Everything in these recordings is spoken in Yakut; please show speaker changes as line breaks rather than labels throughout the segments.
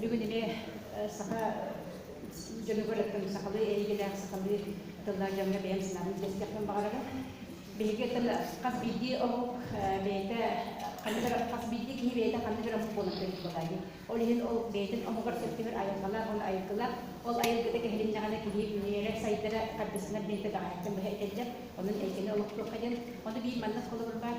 бүгүн ини саха дьонугар сахалыы эйгэлээх сахалыы тыллаах дьоҥҥо бэйэм санаабын кэстиэхпин баҕарабын биһиги тыл хас биирдии омук бэйэтэ ханнык хас биирдии киһи бэйэтэ ханнык омук буолан буолаайы ол иһин ол бэйэтин омугар сөптөһөр айылҕалаах уонна айылгылаах ол айылгыта кэһилиннэҕинэ киһи үҥүөрэ сайдара хардыссанар бэйэтэ баҕайыттан быһа этэллэр онон эйгэни олохтуохха диэн ону биир маннас холобур баар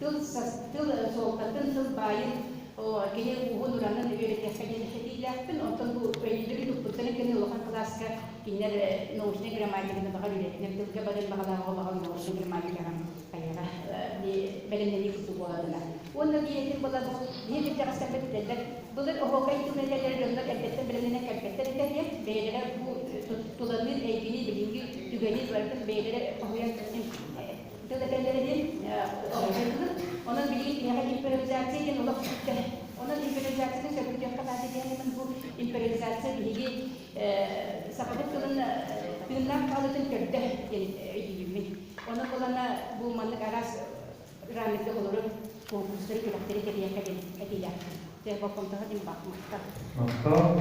тыл, тыл суолтатын, тылбаайын, кини ууһун уранын үөрэтэххэ диэн этиилээхпин, оттон бу өйдөбүл укпуттарын кэннэ улахан кылааска кинилэр научнай грамматиканы баҕар үлэтинэн тылга барын баҕалааҕы баҕар научнай грамматикаҕа хайаҕа бэлэмнэнии курдук буолатына. Уонна диэтим була бу биир дьахтарбыт этэллэр былыр оһуока иитимнэлэр дьоннор эрдэттэн бэлэмнэнэн кэлбэттэр этэ диэн бэйэлэрэ бу туланыы эйгини билиҥҥи түгэни барытын бэйэлэрэ хоһуйан көрсөн төлөпөллөрүнэн дьайыллыбыт. Онон билигин киһиэхэ империализация диэн олох сүктэ. Онон империализацияны сөбүлүтүөххэ наада диэн этим бу империализация биһиги сахабыт тылын тыыннаах хаалыытын көрдө диэн өйдүүммүн. Ону булана бу маннык араас раммерга олорор конкурстары күрэхтэри тэрийэххэ диэн этиилээхпин. Дьэ, болҕомтоҕо диэн баах махтал. Махтал.